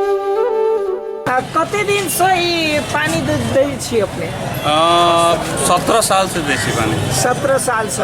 आ, कते दिन से ई पानी दे दै छी अपने सत्रह साल से देसी पानी सत्रह साल से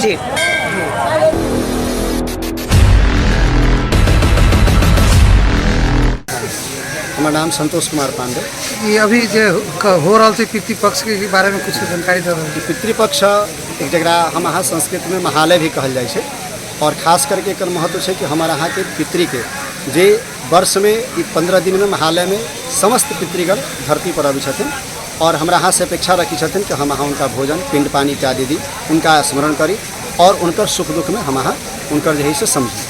जी हमर नाम संतोष कुमार पांडे ई अभी जे क- हो रहल छै पितृपक्ष के बारे में कुछ जानकारी दे रहल ई पितृपक्ष एक जकरा हम अहाँ संस्कृतमे महालय भी कहल जाइ छै आओर खास करके एकर महत्व छै कि हमर अहाँके पितृके जे वर्ष में ई पंद्रह दिन में महालय में समस्त पितृगण धरती पर अबै छथिन और हमरा अहाँ से अपेक्षा रखी छथिन कि हम अहाँ उनका भोजन पिंड पानी इत्यादि दी उनका स्मरण करी और उनकर सुख दुख में हम अहाँ उनकर जे है से समझी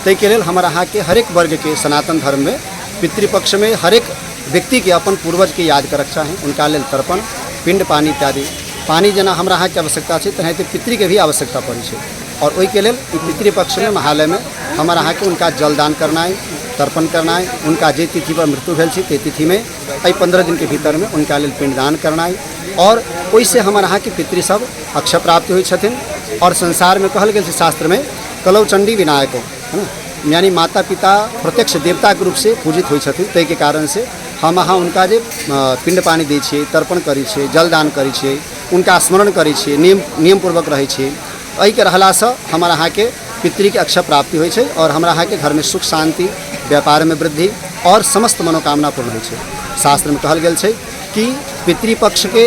ताहिके लेल हमर अहाँके हरेक वर्गके सनातन धर्ममे पितृपक्षमे हरेक व्यक्तिके अपन पूर्वजके याद करक चाही हुनका लेल तर्पण पिण्ड पानी इत्यादि पानी जेना हमरा अहाँके आवश्यकता छै तेनाहिते पितृके भी आवश्यकता पड़ै छै और ओहि के लेल ई पितृपक्ष में महालय में हमर अहाँ के उनका जलदान करनाइ तर्पण करनाइ उनका जे तिथि पर मृत्यु भेल छी ते तिथि में एहि पंद्रह दिन के भीतर में उनका लेल पिंडदान करनाइ और ओहि से हमर अहाँ के पितृ सब अक्षय प्राप्त होइ छथिन और संसार में कहल गेल छै शास्त्र में कलौ चंडी विनायको है ना यानी माता पिता प्रत्यक्ष देवता के रूप से पूजित होइ छथिन ताहि के कारण से हम अहाँ उनका जे अ, पिंड पानी दै छियै तर्पण करै छियै जलदान करै छियै उनका स्मरण करै छी नियम नियमपूर्वक रहै छी एहिके रहलासँ हमर अहाँके पितृके अक्षय प्राप्ति होइ छै आओर हमरा अहाँके घरमे सुख शान्ति व्यापारमे वृद्धि आओर समस्त मनोकामना पूर्ण होइ छै शास्त्रमे कहल गेल छै कि पितृपक्षके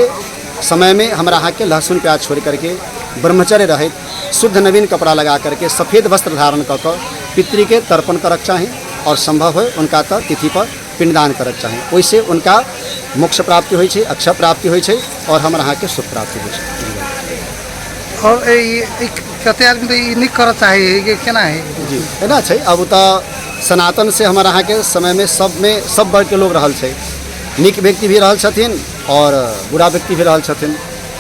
समयमे हमरा अहाँके लहसुन प्याज छोड़ करके ब्रह्मचर्य रहैत शुद्ध नवीन कपड़ा लगा करके सफेद वस्त्र धारण कऽ कऽ पितृके तर्पण करक चाही आओर सम्भव होइ उनका तऽ तिथिपर पिंडदान करऽ के चाही ओहिसे उनका मोक्ष प्राप्ति होइ छै अक्षय प्राप्ति होइ छै और हमर अहाँके सुख प्राप्ति होइ छै और ए- ई- ई कते आदमी तऽ ई नहि करऽ चाहै है कि केना है जी एना छै अब तऽ सनातन से हमर अहाँके समयमे सबमे सब वर्गके लोग रहल छै नीक व्यक्ति भी रहल छथिन और बुरा व्यक्ति भी रहल छथिन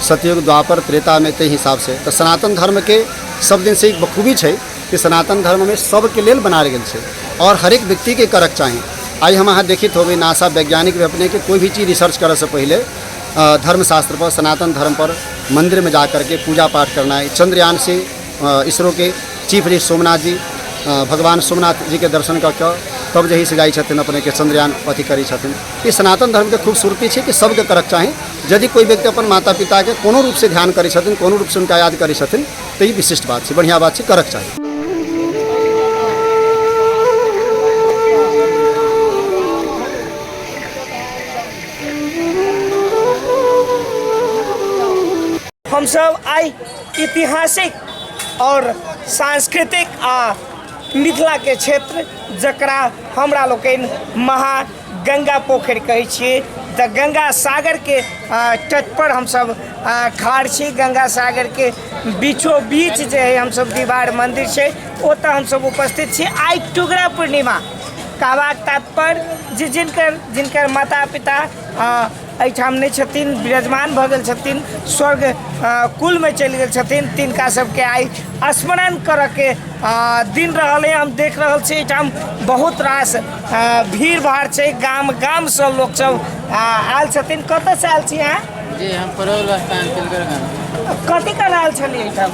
सतयुग द्वापर त्रेतामे ताहि हिसाबसँ तऽ सनातन धर्मके सब दिनसँ एक बखूबी छै कि सनातन धर्म में सबके लेल बनायल गेल छै और हरेक व्यक्ति के करक चाही आइ हम अहाँ देखित होबै नासा वैज्ञानिक भी अपने के कोई भी चीज रिसर्च करे से पहले अ, धर्मशास्त्र पर सनातन धर्म पर मंदिर में जा करके पूजा पाठ करना है चंद्रयान से अ, इसरो के चीफ जी सोमनाथ जी अ, भगवान सोमनाथ जी के दर्शन कऽ कऽ तब जही से जाइ छथिन अपने के चंद्रयान अथी करै छथिन ई सनातन धर्म के खूबसूरती छै कि सबके करक चाही यदि कोई व्यक्ति अपन माता पिता के कोनो रूप से ध्यान करै छथिन कोनो रूप से उनका याद करै छथिन तऽ ई विशिष्ट बात छै बढ़िआँ बात छै करक चाही हमसब आइ ऐतिहासिक आओर सांस्कृतिक आ मिथिलाके क्षेत्र जकरा हमरा लोकनि महान गंगा पोखरि कहै छियै तऽ गंगा सागरके तटपर हमसभ ठाढ़ छी गंगा सागरके बीचो बीच जे है हमसभ दीवार मन्दिर छै ओतऽ हमसभ उपस्थित छी आइ टुगरा पूर्णिमा कहबाक तात्पर्य जे जिनकर जिनकर माता पिता एहिठाम नहि छथिन विराजमान भऽ गेल छथिन स्वर्ग कुलमे चलि गेल छथिन तिनका सबके आइ स्मरण करऽके दिन रहल है हम देख रहल छी एहिठाम बहुत रास भीड़ भाड़ छै गाम गामसँ लोक सब आयल छथिन कतऽसँ आयल छी अहाँ जी हम परोल स्थान तिलगर गाम कथी कर रहल छलियै एहिठाम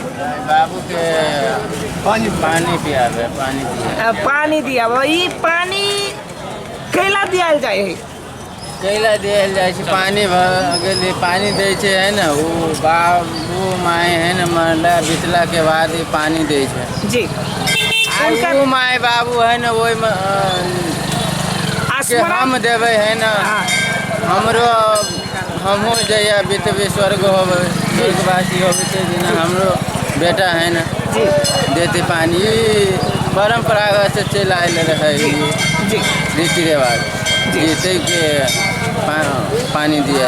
बाबूके पानी पानी पियाबे पानी दिया पानी दियाबे ई पानी कैला दियाल जाइ है कैला देल जाइ छै पानि भर गेली पानि दै छै है ने ओ बाबू माय है ने मरला बितला के बाद ई पानि दै छै जी आ हुनकर ओ माय बाबू है ने ओहिमे जे स्मरण हम देबै है ने हँ हमरो हमहूँ जहिया बितबै स्वर्ग होबै स्वर्गवासी होबै ताहि दिना हमरो बेटा है ने जी देते पानि ई परम्परागत से चलि आयल रहै ई जी रीति रिवाज जे छै के पानि दिय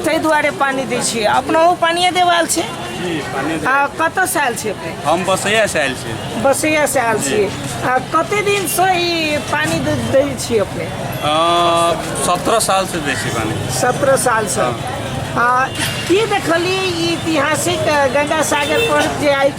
ताहि दुआरे पानि दै छियै अपना ओ पानिए देवाल छै आ कतऽसँ आयल छी अपने हम बसैयासँ आयल छी बसैयासँ आयल छी आ कते दिनसँ ई पानि दै छी अपने सत्रह सालसँ दै छी पानि सत्रह सालसँ हाँ। आ की देखलियै ई ऐतिहासिक गंगा सागर पर जे आइ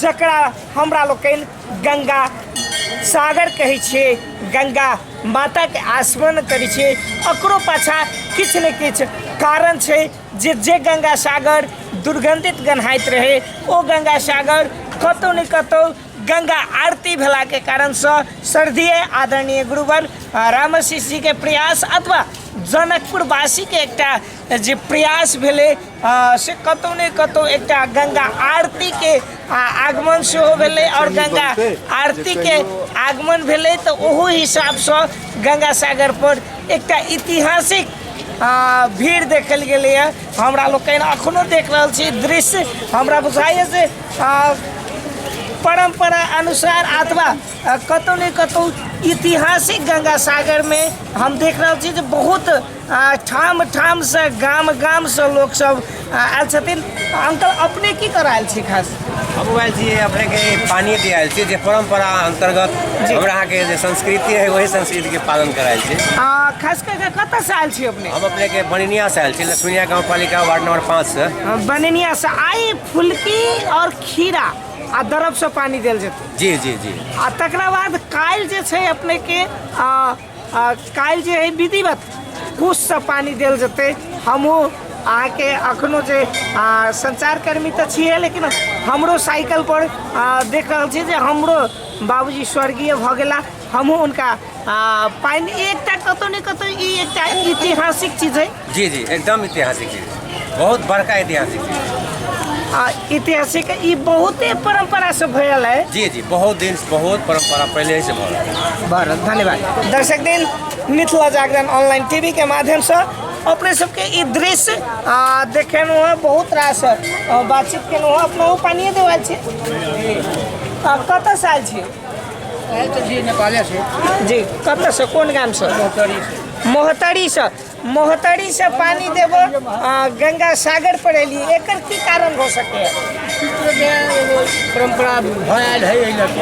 जकरा हमरा लोकनि गंगा सागर कहै छियै गंगा माताके आस्मरण करै छियै ओकरो पाछाँ किछु ने किछु कारण छै जे जे गंगा सागर दुर्गन्धित गन्हाइत रहै ओ गंगा सागर कतहु ने कतहु गंगा आरती भेलाके कारणसँ श्रद्धेय आदरणीय गुरुवर रामशिषजीके प्रयास अथवा जनकपुरवासीके एकटा जे प्रयास भेलै से कतहु ने कतहु एकटा गंगा आरतीके आगमन सेहो भेलै आओर गंगा आरतीके आगमन भेलै तऽ ओहो हिसाबसँ गंगा सागरपर एकटा ऐतिहासिक भीड़ देखल गेलैए हमरा लोकनि एखनो देख रहल छी दृश्य हमरा बुझाइए जे परम्परा अनुसार अथवा कतहु ने कतहु ऐतिहासिक गंगा सागरमे हम देख रहल छी जे बहुत आ ठाम ठाम से गाम गाम से लोग सब आ, आयल छथिन आ, अंकल अपने की कर आयल छी खास हम आयल छी अपने के पानी दिया आयल छी जे परंपरा अंतर्गत जी। हमरा अहाँ के जे संस्कृति है वही संस्कृति के पालन करायल छी आ, खास करके कतऽ से आयल छी अपने हम अपने के बनिनिया से आयल छी लक्ष्मीनिया गाँव पालिका वार्ड नंबर पाँच से आ, बननिया से आई फुलकी और खीरा आ दरब से पानी देल जेतै जी जी जी आ तकरा बाद काल्हि जे छै अपने के आ, आ, काल्हि जे है विधिवत कुछ से पानी देल जेतै हमहूँ अहाँके अखनो जे आ, संचारकर्मी तऽ छियै लेकिन हमरो साइकिल पर आ, देख रहल छी जे हमरो बाबूजी स्वर्गीय भऽ गेला हमहूँ हुनका आ, पानि एकटा कतौ ने कतौ ई एकटा ऐतिहासिक चीज है जी जी एकदम ऐतिहासिक चीज बहुत बड़का ऐतिहासिक चीज आ ऐतिहासिक ई बहुते परंपरा से भयल है जी जी बहुत दिन से बहुत परंपरा पहले ही से भऽ रहल है। बड़ धन्यवाद दर्शक दिन मिथिला जागरण ऑनलाइन टीवी के माध्यम से अपने सबके ई दृश्य आ, देखेलहुँ हँ बहुत रास आ, बातचीत केलहुँ हँ अपना पानिए देवाल छी आ, कतऽ से आयल छी नेपाले से जी कतऽ से कोन गाम से मोहतरी से मोहतरी से पानी देबो आ गंगा सागर पर एली एकर की कारण हो सके है परंपरा भयल है एहि लग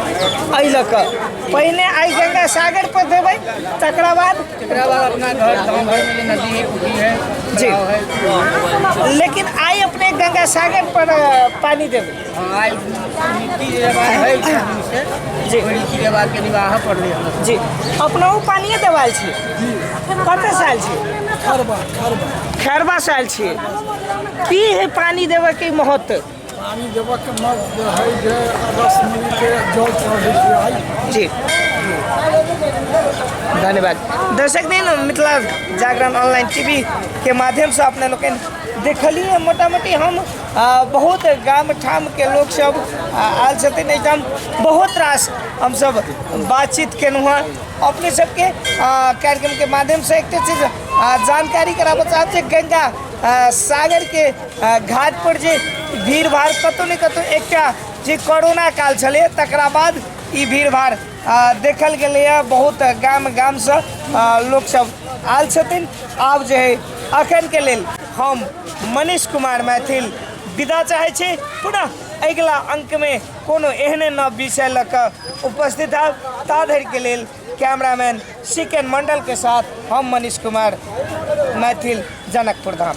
एहि लऽ कऽ पहिने आइ गंगा सागर पर देबै तकरा बाद एकरा बाद अपना घर गाँव घर में नदी है पुखी है जी लेकिन आइ अपने गंगा सागर पर अ, पानी देबै आइ नीति जे बात है छथिन से जी। ओ नीति जे बात के निबाह पड़लै हमरा जी अपना ओ पानिए देवाल छी कतऽ से आयल छी खरबा खरबा खैरबा से आयल छी की है पानी देवे के महत्व पानी देबऽ के मग जे है जे अगस्त मिल के जल चढ़ै छै आइ जी धन्यवाद दर्शक दिन मिथिला जागरण ऑनलाइन टीवी के माध्यम से अपने लोग देखलिए मोटा मोटी हम बहुत गाम ठामके लोकसभ आयल छथिन एहिठाम बहुत रास हमसभ बातचीत केलहुँ हँ अपने सबके कार्यक्रमके माध्यमसँ एकटा चीज जानकारी कराबऽ चाहब जे गङ्गा सागरके घाटपर जे भीड़भाड़ कतहु ने कतहु एकटा जे कोरोना काल छलै तकरा बाद ई भीड़भाड़ आ देखल गेलैए बहुत गाम गामसँ आ, लोकसभ आयल छथिन आब जे है अखनके लेल हम मनीष कुमार मैथिल विदा चाहै छी पुनः अगिला अंकमे कोनो एहने नव विषय लऽ कऽ उपस्थित आब ता धरिके लेल कैमरामैन सिकन मण्डलके साथ हम मनीष कुमार मैथिल जनकपुर धाम